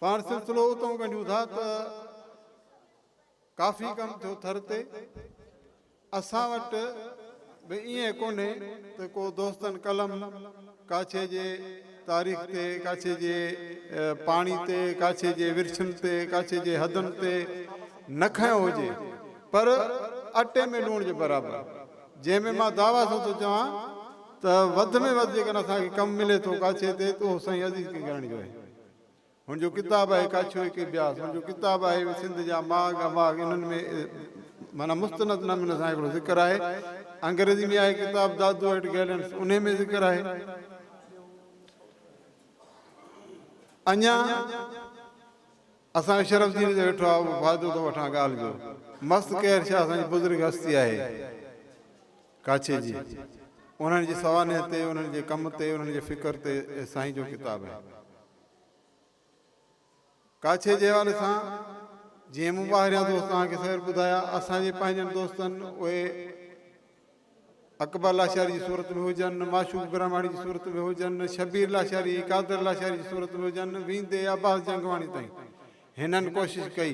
پاڻ سلسلو اتئون ڳنڍيون ٿا ته ڪافي ڪم ٿيو ٿر تي اسان وٽ به ائين ڪونهي ته ڪو دوستن قلم ڪاڇي جي تاريخ تي ڪاڇي جي پاڻي تي ڪاڇي جي ورڇن تي ڪاڇي جي حدن تي نه کنيو هجي پر اٽي ۾ لوڻ جي برابر جنهن ۾ مان دعويٰ سان ٿو چوان ته وڌ ۾ وڌ جيڪڏهن اسان کي ڪم ملي ٿو ڪاڇي تي ته اهو سائين عزيز ڪنگياڻي جو آهي. هن جو ڪتاب آهي ڪاڇيو ايڪي بياس، هن جو ڪتاب آهي سنڌ جا ماڳ اماڳ انهن ۾ معنيٰ مستند نموني سان هڪڙو ذڪر آهي. انگريزي ۾ آهي ڪتاب دادو ايٽ گيلنس انهي ۾ ذڪر آهي. اڃا. اسان کي شرف جيئري ته ويٺو آ اهو فائدو ٿو وٺان ڳالهه جو. مست قهر شاهه اسان جي بزرگ هستي آهي ڪاڇي جي انهن جي سوانح تي انهن جي ڪم تي انهن جي فڪر تي اهي سائين جو ڪتاب آهي ڪاڇي جي حوالي سان جيئن مون ٻاهريان دوست توهان کي سوير ٻڌايا اسان جي پنهنجن دوستن اهي اڪبر لاشاري جي صورت ۾ هجن، معشوق برهماڻي جي صورت ۾ هجن، شبير لاشاري، قادر لاشاري جي صورت ۾ هجن، ويندي عباس جنگواڻي تائين هنن ڪوشش ڪئي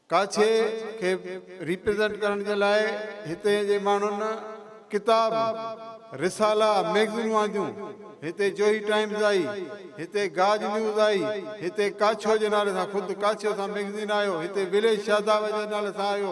ڪاڇي کي ريپريزنٽ ڪرڻ جي لاء هتي جي ماڻهن ڪتاب، رسالا، ميگزينون آنديون، هتي جوهي ٽائيمز آئي، هتي گاج نيوز آئي، هتي ڪاڇو جي نالي سان خود ڪاڇو سان ميگزين آيو، هتي وليج شاداب جي نالي سان آيو،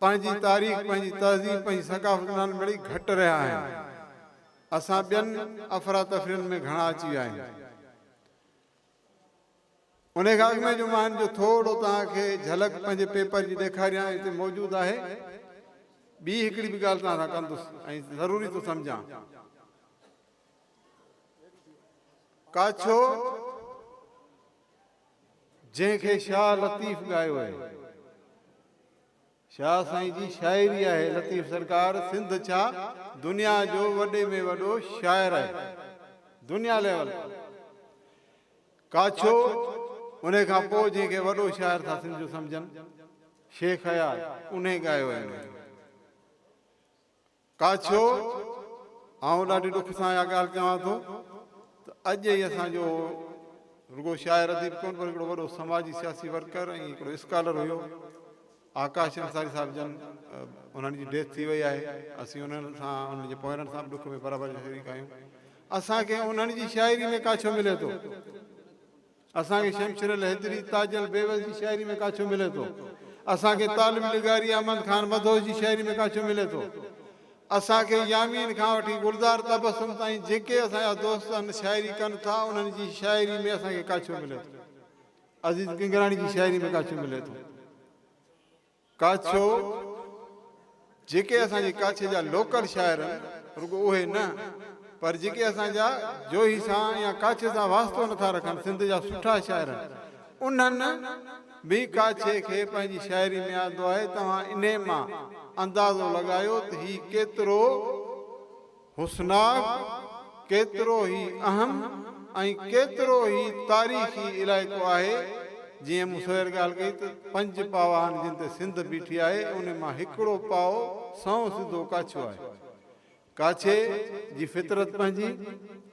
پنهنجي تاريخ، پنهنجي تهذيب، پنهنجي ثقافت ڏانهن مڙئي گهٽ رهيا آهن. اسان ٻين افراتفرين ۾ گهڻا اچي ويا آهيون. انهي کان اڳ ۾ جو مان هن جو ٿورڙو توهان کي جهلڪ پنهنجي پيپر جي ڏيکاريان ۽ هتي موجود آهي ٻي هڪڙي به ڳالهه توهان سان ڪندس ۽ ضروري ٿو سمجهان. ڪاڇو، جنهن کي شاهه لطيف ڳايو آهي. شاهه سائين جي شاعري آهي لطيف سرڪار سنڌ ڇا دنيا جو وڏي ۾ وڏو شاعر آهي دنيا ليول ڪاڇو انهي کان پوء جنهن کي وڏو شاعر ٿا سنڌيون سمجهن شيخ اياز انهي ڳايو آهي انهي ڪاڇو، آئون ڏاڍي ڏک سان اها ڳالهه چوان ٿو ته اڄ هي اسان جو رڳو شاعر اديب ڪونه پر هڪڙو وڏو سماجي سياسي ورڪر ۽ هڪڙو اسڪالر هيو آڪاش انصاري صاحب جن انهن جي ڊيٿ ٿي وئي آهي اسين انهن سان انهن جي پوئرن سان به ڏک ۾ برابر شريڪ آهيون اسان کي انهن جي شاعري ۾ ڪاڇو ملي ٿو اسان کي شمشير الحيدري، تاج البيوس جي شاعري ۾ ڪاڇو ملي ٿو. اسان کي طالب نگاري احمد خان مدهوش جي شاعري ۾ ڪاڇو ملي ٿو. اسان کي يامين کان وٺي گلزار تبسم تائين جيڪي اسان جا دوست ان شاعري ڪن ٿا انهن جي شاعري ۾ اسان کي ڪاڇو ملي ٿو. عزيز ڪنگراڻي جي شاعري ۾ ڪاڇو ملي ٿو. ڪاڇو، جيڪي اسان جي ڪاڇي جا لوڪل شاعر آهن، رڳو اهي نه، پر جيڪي اسان جا جوهي سان يا ڪاڇي سان واسطو نه ٿا رکن، سنڌ جا سٺا شاعر آهن، انهن به ڪاڇي کي پنهنجي شاعري ۾ آندو آهي، توهان انهي مان اندازو لڳايو ته هي ڪيترو حسناڪ ڪيترو ئي اهم ۽ ڪيترو ئي تاريخي علائقو آهي، جيئن مون سوير ڳالهه ڪئي ته پنج پاء آهن جن تي سنڌ بيٺي آهي، انهي مان هڪڙو پاء سنئون سڌو ڪاڇو آهي. ڪاڇي جي فطرت پنهنجي،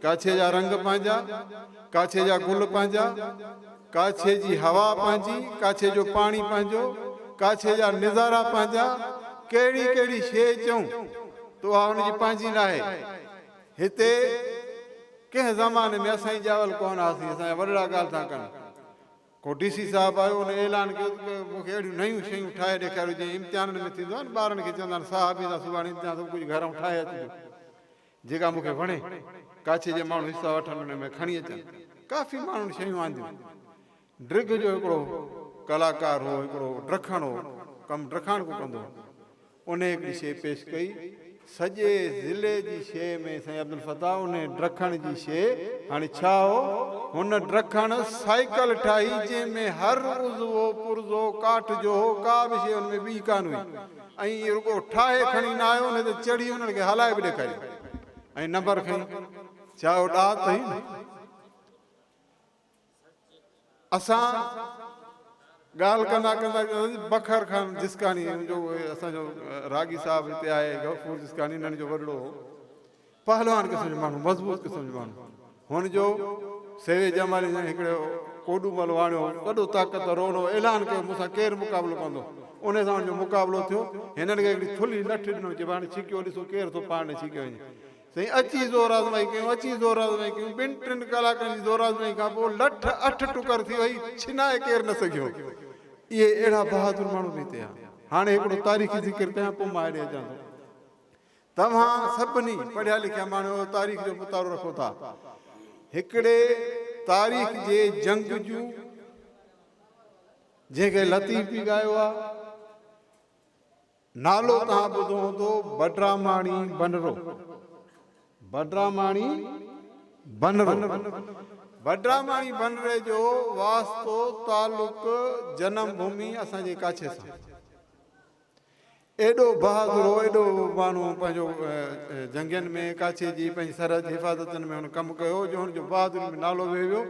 ڪاڇي جا رنگ پنهنجا، ڪاڇي جا گل پنهنجا. ڪاڇي جي هوا پنهنجي، ڪاڇي جو پاڻي پنهنجو، ڪاڇي جا نظارا پنهنجا، ڪهڙي ڪهڙي شيء چئون ته اها ان جي پنهنجي ناهي. هتي ڪنهن زماني ۾ اسان ئي ڄاول ڪونه هئاسين، اسان جا وڏڙا ڳالهه ٿا ڪن. ڪو ڊي سي صاحب آيو، ان اعلان ڪيو ته مون کي اهڙيون نيون شيون ٺاهي ڏيکاريو جيئن امتحانن ۾ ٿيندو آهي نه ٻارن کي چوندا آهن صاحب ايندا سڀاڻي امتحان سڀ ڪجهه گهرئون ٺاهي اچجو. جيڪا مون کي وڻي، ڪاڇي جي ماڻهو حصا وٺن انهي ۾ کڻي اچن. ڪافي ماڻهن شيون آنديون. ڊرگهه جو هڪڙو ڪلاڪار هو، هڪڙو ڊرکڻ هو، ڪم ڊرکاڻڪو ڪندو هو. انهي هڪڙي شيء پيش ڪئي. سڄي ضلعي جي شيء ۾ سائين عبدالفتاح انهي ڊرکڻ جي شيء هاڻي ڇا هو؟ هن ڊرکڻ سائيڪل ٺاهي، جنهن ۾ هر عضوو پرزو ڪاٺ جو هو، ڪا به شيء ان ۾ ٻي ڪانه هئي. ۽ ايئن رڳو ٺاهي کڻي نه آيو نه ته چڙهي انهن کي هلائي به ڏيکاريندو ۽ نمبر کڻي ڇا اهو ڏات هئي نه اسان ڳالهه ڪندا ڪندا بکر خان جسڪاڻي جو اسان جو راڳي صاحب هتي آهي غفور جسڪاڻي انهن جو وڏڙو هو پهلوان قسم جو ماڻهو، مضبوط قسم جو ماڻهو. هن جو سيوي ڄماري سان هڪڙي ڪوڏو مل واڻيو هو. وڏو طاقتور هو. ان هو اعلان ڪيو مون سان ڪير مقابلو ڪندو؟ انهي سان هن جو مقابلو ٿيو. هنن کي هڪڙي ٿلهي لٺ ڏنو چي هاڻي ڇڪيو ڏسو ڪير ٿو پاڻ ڏي ڇڪيو وڃي. سائين اچي زور آزمائي ڪيون، اچي زور آزمائي ڪيون. ٻن ٽن ڪلاڪن جي زور آزمائي کان پوء لٺ اٺ ٽڪر ٿي وئي. ڇنائي ڪير نه سگهيو. اهي اهڙا بهادر ماڻهو به هتي آيا. هاڻي هڪڙو تاريخي ذڪر ڪيان پوء مان هيڏي اچان ٿو. توهان سڀني پڙهيا لکيا ماڻهو تاريخ جو مطالعو رکو ٿا هڪڙي تاريخ جي جنگ جو جنهن کي لطيف به ڳايو آ نالو توهان ٻڌو هوندو بڊراماڻي بنرو بڊراماڻي بنرو بڊراماڻي بنري جو واسطو تعلق جنم ڀومي اسان جي ڪاڇي سان ايڏو بهادر هو، ايڏو ماڻهو پنهنجو جنگين ۾ ڪاڇي جي پنهنجي سرحد جي حفاظتن ۾ هن ڪم ڪيو هو جو هن جو بهادري ۾ نالو وهي ويو.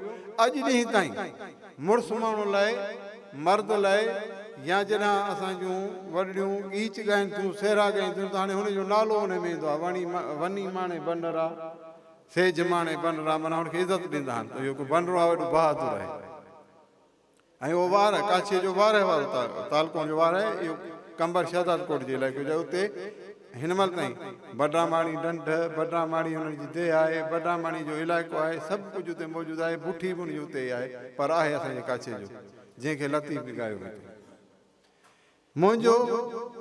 اڄ ڏينهن تائين مڙس ماڻهو لاء، مرد لاء يا جڏهن اسان جون وڏڙيون ڳيچ ڳائين ٿيون، سهرا ڳائين ٿيون ته هاڻي هن جو نالو انهي ۾ ايندو آهي، وني ماڻي بنرا، سيج ماڻي بنرا معنيٰ هن کي عزت ڏيندا آهن ته اهو هڪ بنرو آهي ايڏو بهادر آهي. ۽ اهو واهه ڪاڇي جو واهه وارو تعلقو جو واهه آهي اهو قنبر شهدادڪوٽ جي علائقي جو آهي اتي هن مهل تائين بڊراماڻي ڍنڍ، بڊراماڻي انهن جي ديهه آهي، بڊراماڻي جو علائقو آهي سڀ ڪجهه اتي موجود آهي بٺي به ان جي اتي ئي آهي پر آهي اسان جي ڪاڇي جو جنهن کي لطيف به ڳايو ويندو. منهنجو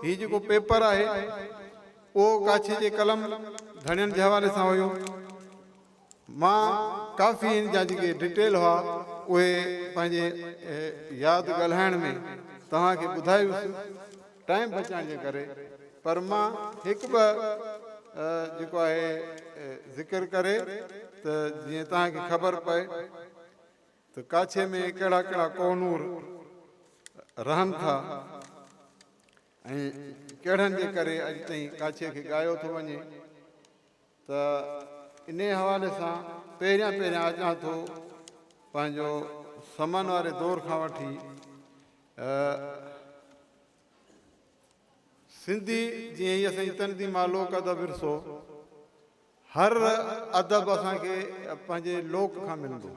هي جيڪو پيپر آهي اهو ڪاڇي جي قلم ڌڻين جي حوالي سان هيو. مان ڪافي هن جا جيڪي ڊٽيل هئا اهي پنهنجي ياد ڳالهائڻ ۾ توهان کي ٻڌائي هيس ٽائيم بچائڻ جي ڪري پر مان هڪ ٻه جيڪو آهي ذڪر ڪري ته جيئن توهان کي خبر پئي. ته ڪاڇي ۾ ڪهڙا ڪهڙا ڪوهنور رهن ٿا ۽ ڪهڙن جي ڪري اڄ تائين ڪاڇي کي ڳايو ٿو وڃي ته انهي حوالي سان پهريان پهريان اچان ٿو پنهنجو سمن واري دور کان وٺي سنڌي جيئن هي اسان جي تندي مالوڪ ادب ورثو هر ادب اسان کي پنهنجي لوڪ کان ملندو.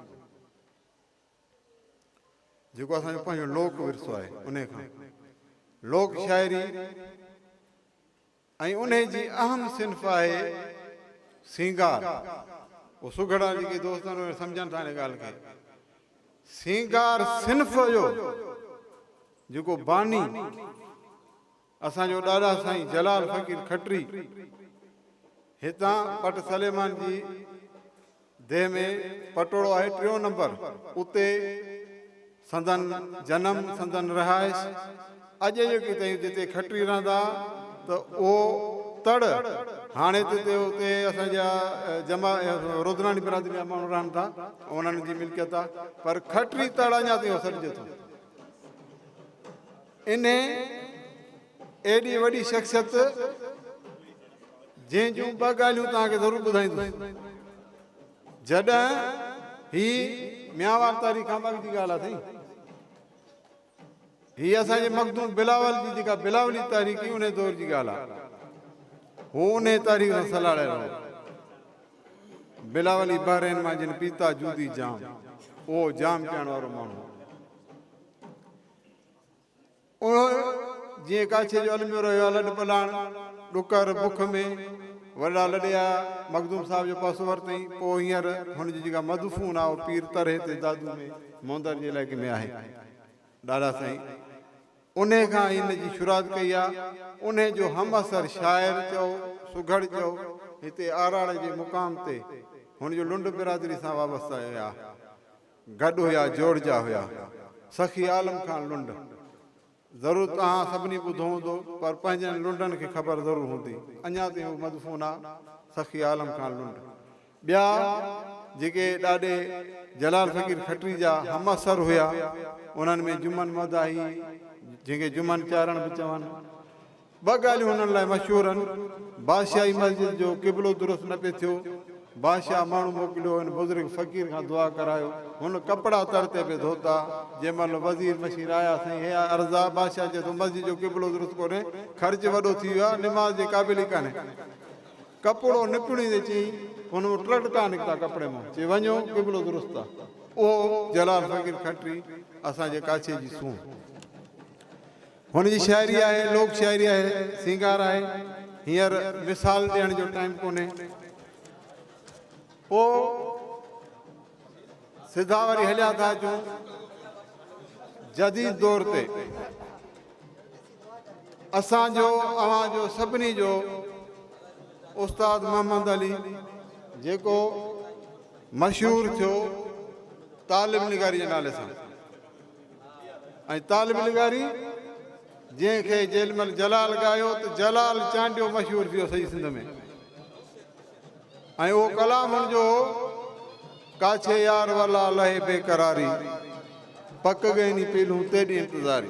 جيڪو اسان جو پنهنجو لوڪ ورثو آهي انهي کان. لوڪ شاعري ۽ انهي جي اهم صنف آهي سينگار. اهو سگهڙا جيڪي دوست آهن اهي سمجهن ٿا انهي ڳالهه کي. سينگار صنف جو جيڪو باني اسان جو ڏاڏا سائين جلال فقير کٽري هتان پٽ سليمان جي ديهه ۾ پٽوڙو آهي ٽيون نمبر اتي سندن جنم سندن رهائش اڄ جوڪي تائين جتي کٽري رهندا ته اهو تڙ هاڻي ته اتي اتي اسان جا جما رودراڻي برادري جا ماڻهو رهن ٿا انهن جي ملڪيت آهي پر کٽري تڙ اڃا تائين سڏجي ٿو انهيء ايڏي وڏي شخصيت جنهن جون ٻه ڳالهيون توهان کي ضرور ٻڌائيندس. جڏهن، هي ميانوار تاريخ کان اڳ جي ڳالهه آهي سائين. هي اسان جي مخدوم بلاول جي جيڪا بلاولي تاريخ هئي انهيء دور جي ڳالهه آهي. هو انهيء تاريخ سان سلهاڙيل هو. بلاولي بحرين مان جن پيتا جودي جام، اهو جام پيئڻ وارو ماڻهو هو. اهو جيئن ڪاڇي جو الميو رهيو آ لڏ پلاڻ، ڏڪر، بک ۾ وڏڙا لڏي آيا، مخدوم صاحب جو پاسو ورتئين، پوء هينئر هن جي جيڪا مدفون آ اهو پير ترهي تي دادو ۾ مهندر جي علائقي ۾ آهي. ڏاڏا سائين انهي کان هن جي شرات ڪئي آ، انهي جو همعصر شاعر چئو سگهڙ چئو هتي آراڙي جي مقام تي هن جو لنڊ برادري سان وابسته آهي. گڏ هيا جوڙجا هيا سخي عالم خان لنڊ. ضرور توهان سڀني ٻڌو هوندو پر پنهنجن لنڊن کي خبر ضرور هوندي اڃا تائين هو مدفون آ سخي عالم خان لنڊ. ٻيا جيڪي ڏاڏي جلال فقير کٽري جا همعصر هيا انهن ۾ جمن مداحي جنهن کي جمن چارڻ به چون. ٻه ڳالهيون هنن لاء مشهور هن، بادشاهي مسجد جو قبلو درست نه پئي ٿيو، بادشاهه ماڻهو موڪليو هن بزرگ فقير کان دعا ڪرايو، هن ڪپڙا تڙ تي پئي ڌوتا، جنهن مهل وزير مشير آيا سائين هيء عرض آ، بادشاهه چئي ٿو مسجد جو قبلو درست ڪونهي، خرچ وڏو ٿي ويو آ، نماز جي قابل ئي ڪانهي، ڪپڙو نپڙيندي چيائين، هن مون ٽڙڪا نڪتا ڪپڙي مان، چي وڃو قبلو درست آ، اهو جلال فقير کٽري اسان جي ڪاڇي جي سونهن. هن جي شاعري آهي، لوڪ شاعري آهي، سينگار آهي، هينئر مثال ڏيڻ جو ٽائيم ڪونهي. پوء سڌا وري هليا ٿا اچون جديد دور تي. اسان جو اوهان جو سڀني جو استاد محمد علي جيڪو مشهور ٿيو طالب نگاري جي نالي سان. ۽ طالب نگاري جنهن کي جيلمل جلال ڳايو ته جلال چانڊيو مشهور ٿي ويو سڄي سنڌ ۾ ۽ اهو ڪلام هن جو هو ڪاڇي يار ولا لهي بيقراري پڪ گئني پيلهون تيڏي انتظاري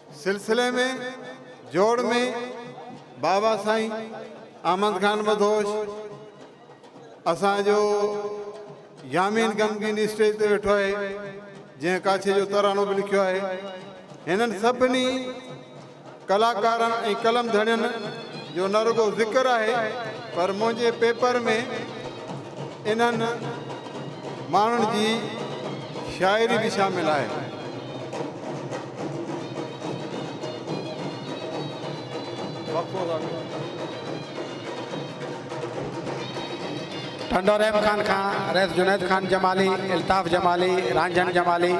سلسلي ۾ جوڙ ۾ بابا سائين احمد خان مدهوش اسان جو يامين غمگين اسٽيج تي ويٺو آهي جنهن ڪاڇي جو ترانو به لکيو آهي هنن سڀني ڪلاڪارن ۽ قلم ڌڻين جو نه رڳو ذڪر آهي پر منهنجي پيپر ۾ انهن ماڻهن جي شاعري به شامل آهي. ٽنڊو رحيم خان کان رئيس جنيد خان جمالي، الطاف جمالي، رانجهڻ جمالي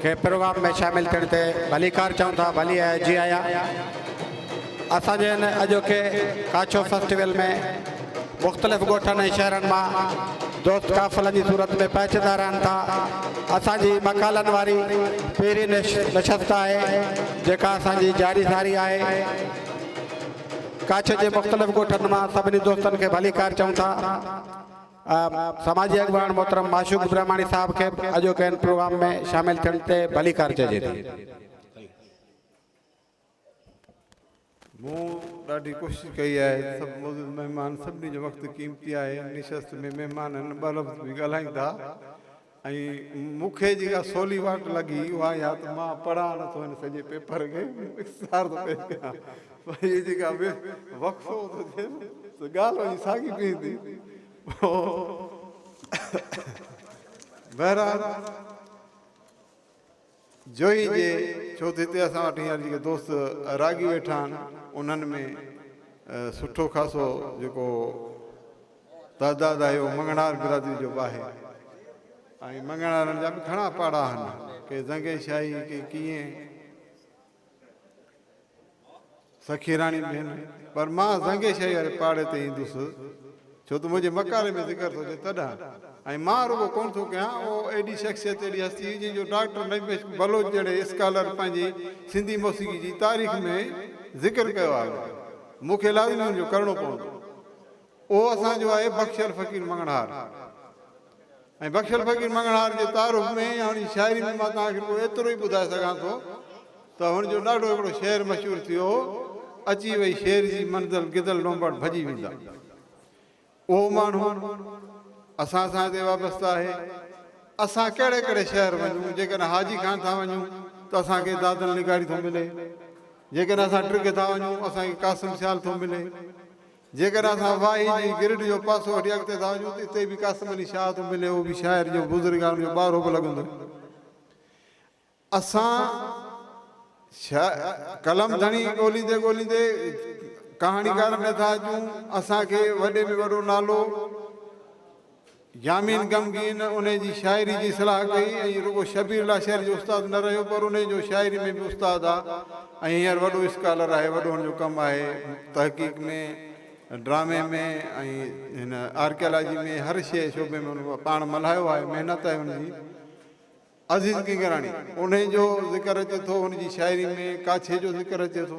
کي پروگرام ۾ شامل ٿيڻ تي ڀليڪار چئون ٿا، ڀلي آيا، جي آيا. اسان جي هن اڄوڪي ڪاڇو فيسٽيول ۾ مختلف ڳوٺن ۽ شهرن مان دوست قافلن جي صورت ۾ پهچندا رهن ٿا. اسان جي مقالن واري پهرين نشست آهي، جيڪا اسان جي جاري ساري آهي. ڪاڇ جي مختلف ڳوٺن مان سڀني دوستن کي ڀليڪار چئون ٿا. سماجي اڳواڻ محترم معشوق برهماڻي صاحب کي به اڄوڪي هن پروگرام ۾ شامل ٿيڻ تي ڀليڪار چئجي ٿي. مون ڏاڍي ڪوشش ڪئي آهي ته سڀ معزز مهمان سڀني جو وقت قيمتي آهي ان نشست ۾ مهمانن ٻه لفظ به ڳالهائين ٿا ۽ مون کي جيڪا سولي واٽ لڳي اها اها ته مان پڙهان نه ٿو هن سڄي پيپر کي اختصار ٿو پيش ڪيان پر هي جيڪا وقفو ٿو ٿئي سو ڳالهه وڃي ساڳي بيهندي بهرحال جوهي جي، ڇو ته هتي اسان وٽ هينئر جيڪي دوست راڳي ويٺا آهن، انهن ۾ سٺو خاصو جيڪو تعداد آهي، اهو مڱڻهار برادري جو به آهي ۽ مڱڻهارن جا به گهڻا پاڙا آهن، ڪي زنگي شاهي، ڪي ڪيئن. سخيراڻي ڀيڻ، پر مان زنگي شاهي واري پاڙي تي ايندس، ڇو ته منهنجي مقالي ۾ ذڪر ٿو ٿئي تڏهن. ۽ مان رڳو ڪونه ٿو ڪيان، اهو اهڙي شخصيت، اهڙي هستي هئي، جنهن جو ڊاڪٽر نعيم عشق بلوچ جهڙي اسڪالر پنهنجي سنڌي موسيقي جي تاريخ ۾ ذڪر ڪيو آهي. مون کي لازمي ان جو ڪرڻو پوندو. اهو اسان جو آهي بخشيل فقير مڱڻهار ۽ بخشيل فقير مڱڻهار جي تعارف ۾ يا هن جي شاعري ۾ مان توهان کي رڳو ايترو ئي ٻڌائي سگهان ٿو ته هن جو ڏاڍو هڪڙو شعر مشهور ٿيو هو اچي وئي شير جي منزل گدڙ لونبڙ ڀڄي ويندا اهو ماڻهو اسان سان هتي وابسته آهي اسان ڪهڙي ڪهڙي شهر وڃون جيڪڏهن حاجي خان ٿا وڃون ته اسان کي دادل نگاري ٿو ملي جيڪڏهن اسان ٽرگهه ٿا وڃون اسان کي قاسم سيال ٿو ملي جيڪڏهن اسان واهي جي گرڊ جو پاسو هٽي اڳتي ٿا وڃون ته اتي به قاسم علي شاهه ٿو ملي اهو به شاعر جو بزرگان جو ٻارو به لڳندو اسان شا قلم ڌڻي ڳوليندي ڳوليندي ڪهاڻيڪارن ۾ ٿا اچون اسان کي وڏي ۾ وڏو نالو يامين غمگين انهيء جي شاعري جي صلاح ڪئي ۽ رڳو شبير لاشاري جو استاد نه رهيو پر انهيء جو شاعري ۾ به استاد آ ۽ هينئر وڏو اسڪالر آهي. وڏوهن جو ڪم آهي تحقيق ۾، ڊرامي ۾، ۽ هن آرڪيالاجي ۾ هر شيء شعبي ۾ هن پاڻ ملهايو آهي. محنت آهي هن جي. عزيز ڪنگراڻي انهيء جو ذڪر اچي ٿو، هن جي شاعري ۾ ڪاڇي جو ذڪر اچي ٿو.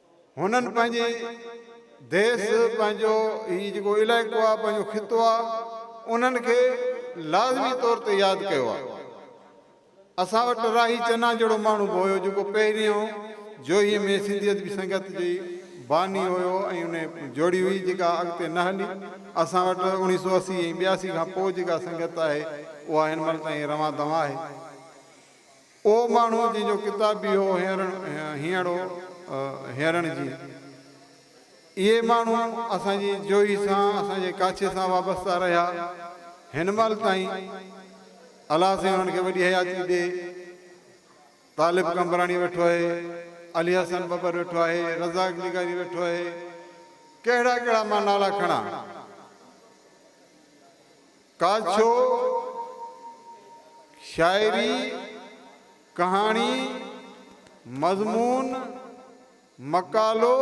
هنن پنهنجي ديس، پنهنجو هي جيڪو علائقو آهي، پنهنجو خطو آهي، انهن کي لازمي طور تي ياد ڪيو آهي. اسان وٽ راهي چنا جهڙو ماڻهو به هيو، جيڪو پهريون جوهي ۾ سنڌي ادبي سنگت جي باني هيو ۽ انهي جوڙي هئي، جيڪا اڳتي نه هلي. اسان وٽ اوڻيهه سؤ اسي ۽ ٻياسي کان پوء جيڪا سنگت آهي، اها هن مهل تائين روان دوان آهي. اهو ماڻهو جنهن جو ڪتاب به اهو هينئڙ هو، هينئرڻ جي اهي ماڻهو اسان جي جوهي سان، اسان جي ڪاڇي سان وابسته رهيا، هن مهل تائين الله سائين انهن کي وڏي حياتي ڏي، طالب قمبراڻي ويٺو آهي، علي حسن ٻٻر ويٺو آهي، رزاق نگاري ويٺو آهي، ڪهڙا ڪهڙا مان نالا کڻان. ڪانڇو، شاعري، ڪهاڻي، مضمون، مقالو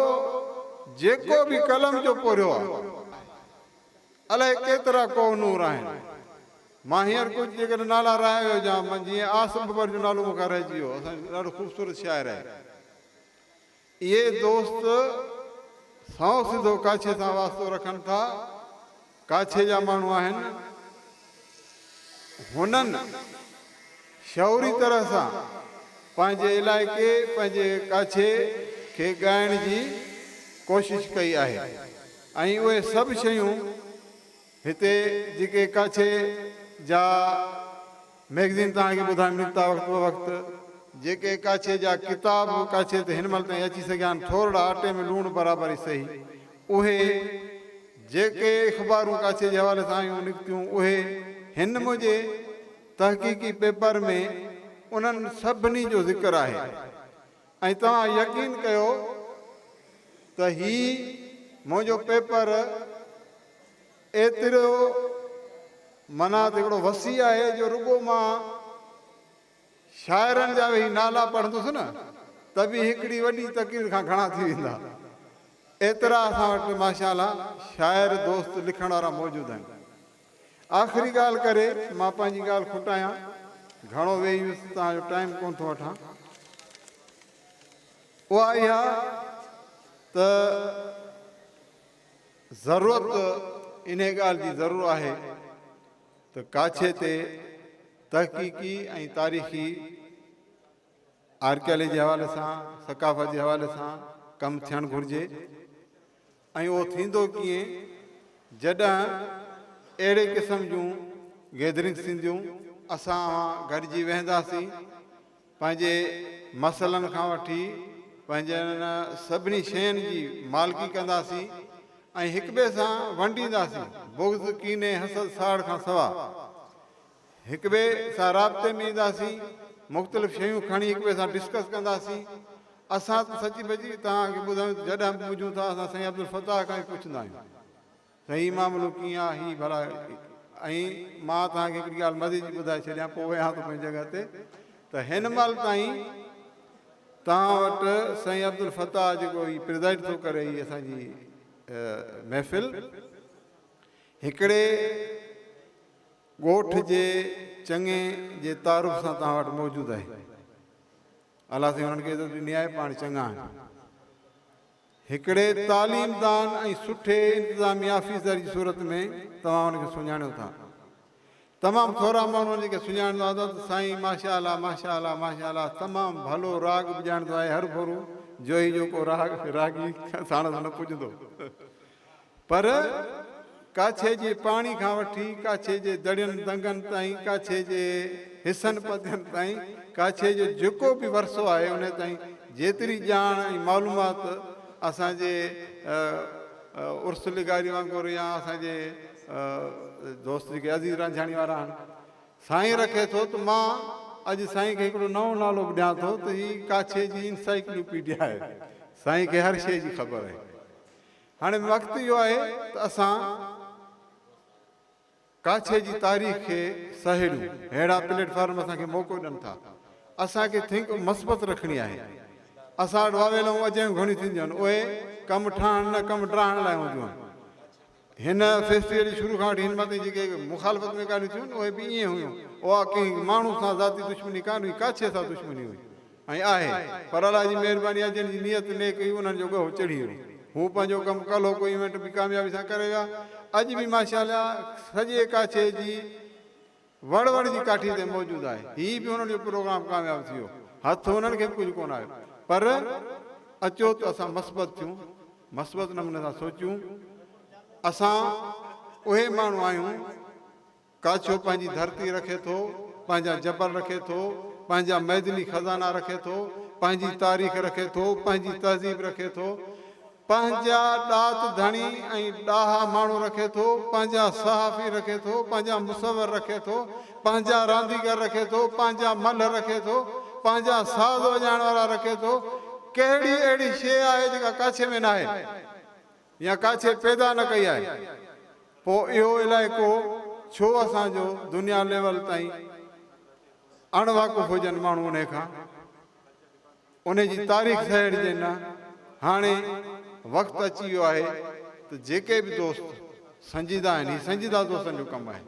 جيڪو به قلم جو پورهيو آهي. الائي ڪيترا ڪوه نور آهن. مان هينئر ڪجهه جيڪڏهن نالا رهائي هجان، جيئن آصف ڀنڀر جو نالو مون کان رهجي ويو، اسان جو ڏاڍو خوبصورت شاعر آهي. اهي دوست سائو سڌو ڪاڇي سان واسطو رکن ٿا، ڪاڇي جا ماڻهو آهن، هنن شعوري طرح سان پنهنجي علائقي، پنهنجي ڪاڇي کي ڳائڻ جي ڪوشش ڪئي آهي ۽ اهي سڀ شيون. هتي جيڪي ڪاڇي جا مئگزين توهان کي ٻڌائڻ نڪتا وقت بوقت. جيڪي ڪاڇي جا ڪتاب به ڪاڇي تي هن مهل تائين اچي سگهيا آهن ٿورڙا اٽي ۾ لوڻ برابر ئي سهي اهي جيڪي اخبارون ڪاڇي جي حوالي سان آيون نڪتيون اهي هن منهنجي تحقيقي پيپر ۾ انهن سڀني جو ذڪر آهي ۽ توهان يقين ڪيو ته هي منهنجو پيپر ايترو معنيٰ ته هڪڙو وسيع آهي جو رڳو مان شاعرن جا ويهي نالا پڙهندس نه ته به هڪڙي وڏي تقرير کان گهڻا ٿي ويندا. ايترا اسان وٽ ماشاءالله شاعر دوست لکڻ وارا موجود آهن. آخري ڳالهه ڪري مان پنهنجي ڳالهه کٽايان، گهڻو ويهي ويس ته توهان جو ٽائيم ڪونه ٿو وٺان، اها اها ته ضرورت انهي ڳالهه جي ضرور آهي ته ڪاڇي تي تحقيقي ۽ تاريخي آرڪيالي جي حوالي سان ثقافت جي حوالي سان ڪم ٿيڻ گهرجي. ۽ اهو ٿيندو ڪيئن جڏهن اهڙي قسم جون گيدرنگس ٿينديون، اسان اوهان گڏجي ويهنداسين، پنهنجي مسئلن کان وٺي پنهنجن سڀني شين جي مالڪي ڪنداسين ۽ هڪٻئي سان ونڊينداسين، بغض، ڪيني، حسد، ساڙ کان سوا. هڪٻئي سان رابطي ۾ اينداسين، مختلف شيون کڻي هڪٻئي سان ڊسڪس ڪنداسين، اسان ته سچي پچي توهان کي ٻڌايون ته جڏهن به پڄون ٿا اسان سائين عبدالفتاح کان ئي پڇندا آهيون ته هي معاملو ڪيئن آهي هي ڀلا ۽ مان توهان کي هڪڙي ڳالهه مزي جي ٻڌائي ڇڏيان پوء ويهان ٿو پنهنجي جڳهه تي ته هن مهل تائين توهان وٽ سائين عبدالفتاح جيڪو هي پريزائيڊ ٿو ڪري هي اسان جي محفل هڪڙي ڳوٺ جي چڱي جي تعارف سان توهان وٽ موجود آهي. الله سائين انهن کي عزت ڏني آهي، پاڻ چڱا آهن. هڪڙي تعليم دان ۽ سٺي انتظامي آفيسر جي صورت ۾ توهان هن کي سڃاڻيو ٿا. تمام ٿورا ماڻهو هن کي سڃاڻندا هوندا ته سائين ماشاء الله ماشاء الله ماشاء الله تمام ڀلو راڳ به ڄاڻندو آهي هرڀرو جوهي جو ڪو راڳ راڳي ساڻس نه پڄندو. پر ڪاڇي جي پاڻي کان وٺي ڪاڇي جي دڙين دنگن تائين، ڪاڇي جي حصن پدين تائين، ڪاڇي جو جيڪو به ورثو آهي انهي تائين جيتري ڄاڻ ۽ معلومات اسان جي عرس لغاري وانگر يا اسان جي دوست جيڪي عزيز رانجهاڻي وارا آهن سائين رکي ٿو ته مان اڄ سائين کي هڪڙو نئون نالو به ڏيان ٿو ته هي ڪاڇي جي انسائيڪلو پيڊيا آهي سائين کي هر شيء جي خبر آهي هاڻي وقت اهو آهي ته اسان ڪاڇي جي تاريخ کي سهيڙيون، ههڙا پليٽ فارم اسان کي موقعو ڏين ٿا. اسان کي ٿينڪ مثبت رکڻي آهي. اسان وٽ واويلائون اجايون گهڻيون ٿينديون آهن، اهي ڪم ٺاهڻ نه ڪم ڊاهڻ لاء هونديون آهن. هن فيسٽيول جي شروع کان وٺي هن مان تائين جيڪي مخالفت ۾ ڳالهيون ٿيون آهن اهي به ائين هيون. اها ڪنهن ماڻهو سان ذاتي دشمني ڪانه هئي، ڪاڇي سان دشمني هئي. ائين آهي، پر الله جي مهرباني آهي جن جي نيت نيڪ هئي انهن جو ڳهو چڙهي ويو. هو پنهنجو ڪم ڪلهوڪو ايونٽ به ڪاميابي سان ڪري ويا. اڄ به ماشاءالله سڄي ڪاڇي جي وڙ وڙ جي ڪاٺي تي موجود آهي. هي به انهن جو پروگرام ڪامياب ٿي ويو. هٿ انهن کي به ڪجهه ڪونه آيو. پر اچو ته اسان مثبت ٿيون، مثبت نموني سان سوچيون. اسان اهي ماڻهو آهيون ڪاڇو پنهنجي ڌرتي رکي ٿو، پنهنجا جبل رکي ٿو، پنهنجا معدني خزانا رکي ٿو، پنهنجي تاريخ رکي ٿو، پنهنجي تهذيب رکي ٿو، پنهنجا ڏات ڌڻي ۽ ڏاها ماڻهو رکي ٿو، پنهنجا صحافي رکي ٿو، پنهنجا مصور رکي ٿو، پنهنجا رانديگر رکي ٿو، پنهنجا ملهه رکي ٿو، پنهنجا ساز وڄائڻ وارا رکي ٿو، ڪهڙي اهڙي شيء آهي جيڪا ڪاڇي ۾ ناهي؟ يا ڪا شيء پيدا نه ڪئي آهي پوء اهو علائقو ڇو اسان جو دنيا ليول تائين اڻ واقف هجن ماڻهو انهي کان انهي جي تاريخ سهيڙجي نه هاڻي وقت اچي ويو آهي ته جيڪي به دوست سنجيده آهن هي سنجيده دوستن جو ڪم آهي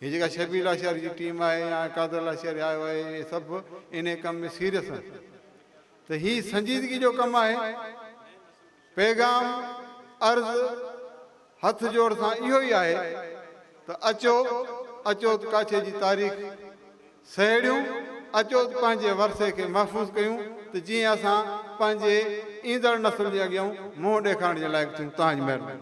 هي جيڪا شبير لاشاري جي ٽيم آهي يا قادر لاشاري آيو آهي اهي سڀ انهي ڪم ۾ سيريس آهن ته هي سنجيدگي جو ڪم آهي پيغام، عرض، هٿ جوڙ سان اهو ئي آهي ته اچو اچوت ڪاڇي جي تاريخ سهيڙيون، اچوت پنهنجي ورثي کي محفوظ ڪيون ته جيئن اسان پنهنجي ايندڙ نسل جي اڳيئون منهن ڏيکارڻ جي لائق ٿيون. تهان جي مهرباني.